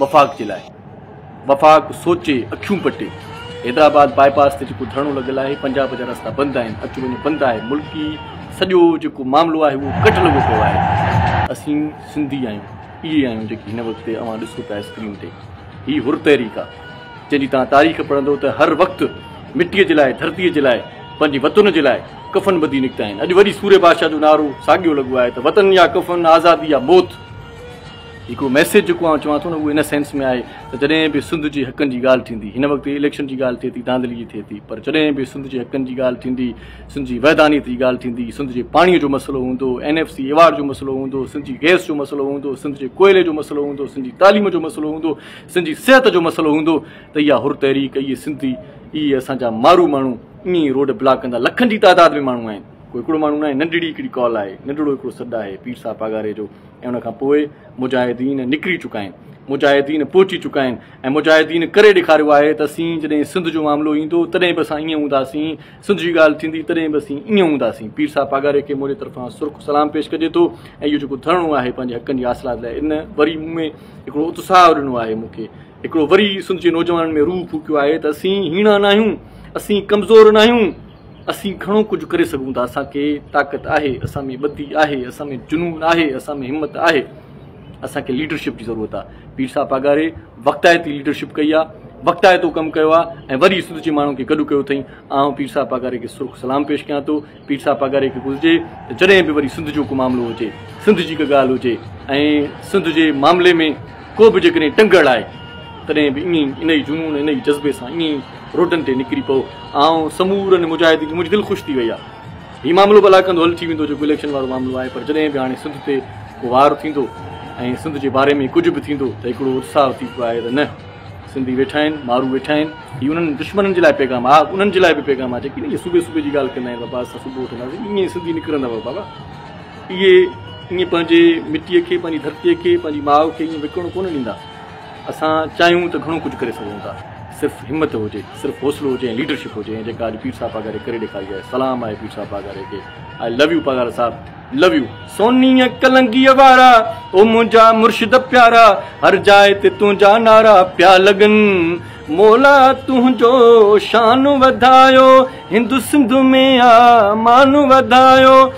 وفاق جي لاء وفاق سوچي اکيون پٽي حيدرآباد باء پاس تي جيڪو ڌرڻو لڳل آهي پنجاب جا رستا بند آهن اچ وڃ بند آهي ملڪي سڄو جيڪو معاملو آهي اهو ڪٽ لڳو پيو آهي اسين سنڌي آهيون اهي آهيون جيڪي هن وقت تي اوهان ڏسو پيا اسڪرين تي هي حر تحريڪ آهي جنهن جي توهان تاريخ پڙهندو ته هر وقت مٽي جي لاء ڌرتي جي لاء پنهنجي وطن جي لاء ڪفن ٻڌي نڪتا آهن اڄ وري سوري بادشاهه جو نعرو ساڳيو لڳو آهي ته وطن يا ڪفن آزادي يا موت. جيڪو ميسيج جيڪو آئون چوان ٿو نه اهو ان سينس ۾ آهي ته جڏهن به سنڌ جي حقن جي ڳالهه ٿيندي هن وقت اليڪشن جي ڳالهه ٿئي ٿي ڌانڌلي جي ٿئي ٿي پر جڏهن به سنڌ جي حقن جي ڳالهه ٿيندي سنڌ جي وحدانيت جي ڳالهه ٿيندي سنڌ جي پاڻي جو مسئلو هوندو اين ايف سي ايوارڊ جو مسئلو هوندو سنڌ جي گئس جو مسئلو هوندو سنڌ جي ڪوئلي جو مسئلو هوندو سنڌ جي تعليم جو مسئلو هوندو سنڌ جي صحت جو مسئلو هوندو ته اها حر تحريڪ اهي سنڌي اهي اسان جا مارو ماڻهو ائين ئي روڊ بلاڪ ڪندا لکن جي تعداد ۾ ماڻهو آهن ڪو هڪڙو ماڻهو ناهي ننڍڙي هڪڙي ڪال آهي ننڍڙو هڪڙو سڏ آهي پير صاحب پاڳاري جو ۽ ان کان پوء مجاهدين نڪري چڪا آهن، مجاهدين پهچي چڪا آهن ۽ مجاهدين ڪري ڏيکاريو آهي ته اسين جڏهن سنڌ جو معاملو ايندو تڏهن به اسان ائين هونداسين، سنڌ جي ڳالهه ٿيندي تڏهن به اسين ائين هونداسين. پير صاحب پاڳاري کي منهنجي طرفان سرخ سلام پيش ڪجي ٿو ۽ اهو جيڪو ڌرڻو آهي پنهنجي حقن جي حاصلات لاء ان وري مون ۾ هڪڙو اتساهه ڏنو آهي، مون کي هڪڙو وري سنڌ جي نوجوانن ۾ روح ڦوڪيو آهي ته اسين هيڻا ناهيون، اسين ڪمزور ناهيون. اسين گهڻو ڪجهه ڪري سگهون ٿا، اسان کي طاقت آهي، اسان ۾ ٻڌي آهي، اسان ۾ جنون آهي، اسان ۾ همت آهي، اسان کي ليڊرشپ جي ضرورت آهي، پير صاحب پاڳاري وقتائتي ليڊرشپ ڪئي آهي، وقتائتو ڪم ڪيو آهي ۽ وري سنڌ جي ماڻهن کي گڏ ڪيو اٿئين، آئون پير صاحب پاڳاري کي سرخ سلام پيش ڪيان ٿو، پير صاحب پاڳاري کي گهرجي ته جڏهن به وري سنڌ جو ڪو معاملو هجي، سنڌ جي ڪا ڳالهه هجي ۽ سنڌ جي معاملي ۾. ڪو به جيڪڏهن ٽنگڙ آهي، تڏهن به ائين ئي انهيء جنون، انهيء جذبي سان ائين ئي روڊن تي نڪري پئو. آئون سمورن مجاهدين کي منهنجي دل خوش ٿي وئي آهي. هي معاملو به الاڪندو حل ٿي ويندو، جيڪو اليڪشن وارو معاملو آهي، پر جڏهن به هاڻي سنڌ تي ڪو وار ٿيندو ۽ سنڌ جي باري ۾ ڪجهه به ٿيندو ته هڪڙو اتساهه ٿي پيو آهي ته نه، سنڌي ويٺا آهن، مارو ويٺا آهن. هي انهن دشمنن جي لاء پيغام آهي، ها انهن جي لاء به پيغام آهي، جيڪي نه اهي صوبي صوبي جي ڳالهه ڪندا آهن، بابا اسان صوبو وٺنداسين، ائين ئي سنڌي نڪرندا بابا. اهي ائين پنهنجي مٽيء کي، پنهنجي ڌرتيء کي، پنهنجي ماء کي ائين وڪڻڻ ڪونه ڏيندا. اسان چاهيون ته گهڻو ڪجهه ڪري سگهون ٿا. صرف همت هجي، صرف حوصلو هجي ۽ ليڊرشپ هجي ائين جيڪا اڄ پير صاحب پاڳاري ڪري ڏيکاري آهي. سلام آهي پير صاحب پاڳاري کي. آء لو يو پاڳارا صاحب. لو يو. سونيء ڪلنگيء وارا، او منهنجا مرشد پيارا، هر جاء تي تنهنجا نعرا پيا لڳن، مولا تنهنجو شان وڌايو، هند سنڌ ۾ آ مان وڌايو.